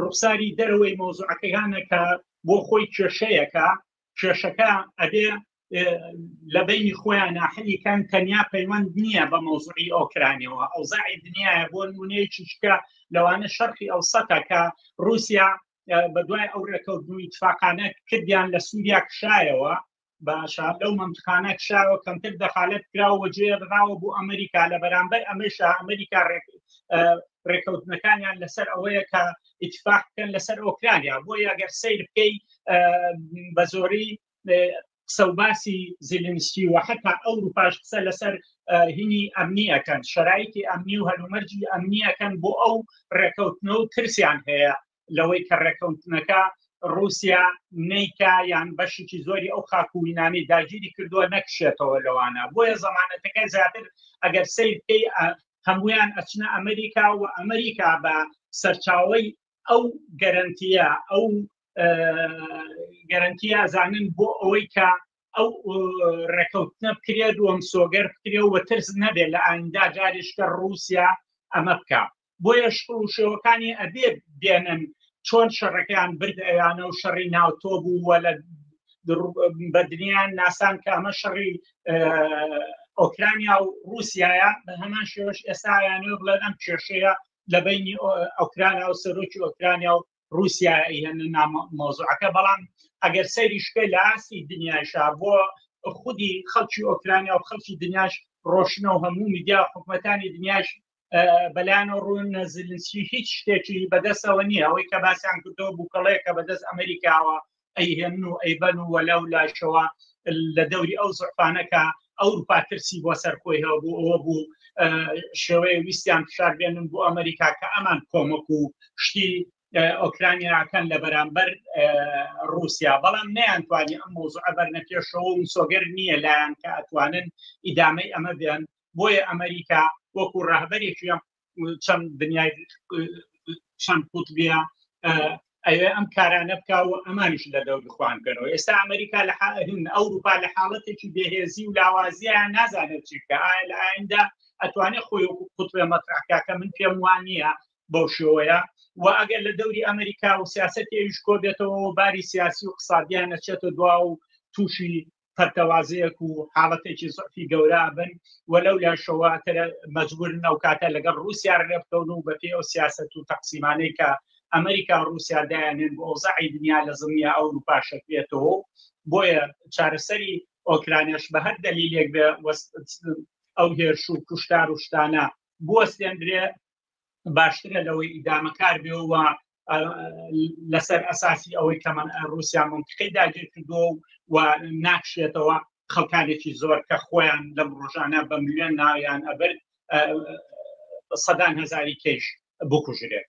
ڕوخساری دەرەوەی مۆزوعەکەیانە کە بۆ خۆی کێشەیەکە کێشەکە ئەبێ لە بینی خۆیان ناحلیکان تەنیا پەیوەند نییە بە مۆزوعی ئۆکرانیەوە ئەوزای دنیاە بۆ نمونەیەکی شکە لەوانە شەرقی ئەو سەتەکە رووسیا بە دوای ئەو ڕێکەوتنی تفاقانە کردیان لە سووریا کشایەوە باشە لەو مەمتخانە کشاوە کەمتر دەخالت کراوە جێ ڕاوە بۆ ئەمریکا لە بەرامبەر ئەمەشە ئەمریکا ڕێکەوتنەکانیان لەسەر ئەوەیە کە ئیتفاق بکەن لەسەر ئۆکرانیا بۆ یاگەر سیر بکەی بە زۆری سەوباسی زیلنسکی و حتا ئەو روپاش قسە لەسەر هینی ئەمنیەکەن شرایتی ئەمنی و هەلومەرجی ئەمنیەکەن بۆ ئەو ڕێکەوتنە و ترسیان هەیە لەوەی کە ڕێکەوتنەکە رووسیا نیکا یان بەشێکی زۆری ئەو خاکوینانەی داگیری کردووە نەکشێتەوە لەوانە بۆیە زمانەتەکە زیاتر ئەگەر سیر پێی هەمویان ئەچنە ئەمریکا و ئەمریکا بە سەرچاوی ئەو گەرنتیە ئەو گەرنتی ئازانن بۆ ئەوەی کە ئەو ڕێکەوتنە بکرێت و مسۆگەر بکرێ و ترس نەبێت لە ئایندا جاریشکە رووسیا ئەمە بکە بۆیە شکڵ و شێوەکانی ئەبێ بێنن چۆن شەڕەکەیان برد ئەیانە و شەڕی ناوتۆ بوو وە لە بەدنیان ناسان کە ئەمە شەڕی ئۆکرانیا و رووسایە بە هەمان شێوەش ئێستایانە بڵێن ئەم کێشەیە لە بینی ئۆکرانیا و سەرۆکی ئۆکرانیا و رووسیا هێن مۆزوعەکە بەڵام ئەگەر سەری شکە لە ئاسی دنیاشا بۆ خودی خەڵکی ئۆکرانیا و خەڵکی دنیاش ڕۆشنە و هەموو میدیا حکوومەتانی دنیاش بەلانە ڕوون زلنسکی هیچ شتێکی بەدەستەوە نییە ئەوەی کە باسیان کردەوە بووکەڵەیەکە بەدەست ئەمریکاوە ئەیهێن و ئەیبەن و وەلاو لاشەوە لە دەوری ئەو زعفانەکە ئەوروپا ترسی بۆ سەرخۆی هەبوو ئەوە بوو شێوەیە ویستیان فشار بێنن بۆ ئەمریکا کە ئەمان کۆمەک و شتی ئۆکرانیاکەن لە بەرامبەر رووسیا بەڵام نیانتوانی ئەم مۆزوع ئەبەر نەپێشەوە و سۆگەر نییە لایەن کە ئەتوانن ئیدامەی ئەمە بێن بۆیە ئەمریکا وەکو ڕهبەرێکی چەم دنیای چەند قوتبە ئەوێ ئەم کارانە بکە و ئەمانش لە دەور بخوان کەەوە ئێستا ئەمریکا لە حاهن ئەوروپا لە حاڵەتێکی بێهێزی و لاوازیان نازانێت چیکە ئایا لە ئایندا ئەتوانێت خۆی وەکو قوتبێ مەتراکە کە من پێم وان نییە بەو شێوەیە و ئەگەر لە دەوری ئەمریکا و سیاست ئێویش کۆبێتەوە باری سیاسی و قسادیان نەچێتە دوا و تووشی پەرتەوازەیەک و حاڵەتێکی زعفی گەورە بن و لەو لاشەوە مەجبورن ئەو کاتە لەگەڵ رووسیا رێبکەون و بەپی ئەو سیاست و تەقسیمانەی کە ئەمریکا رووسیا دایانێن بۆ ئەوزعی دنیا لە زمیا ئەو روپا شەکرێتەوە بۆیە چارەسەری ئۆکرانیش بە هەر دەلیلێک بێ ئەو هێرش و کوشتار و شتانە بوەستێندرێ باشترە لەوەی ئیدامەکار بێ و لەسەر ئەساسی ئەوەی کە من رووسیا منتقی داگیر کردو و ناکشێتەوە خەڵکانێکی زۆر کە خۆیان لەم ڕۆژانە بە ملیۆن ناویان ئەبرد سەدان هزاری کەش بکوژرێت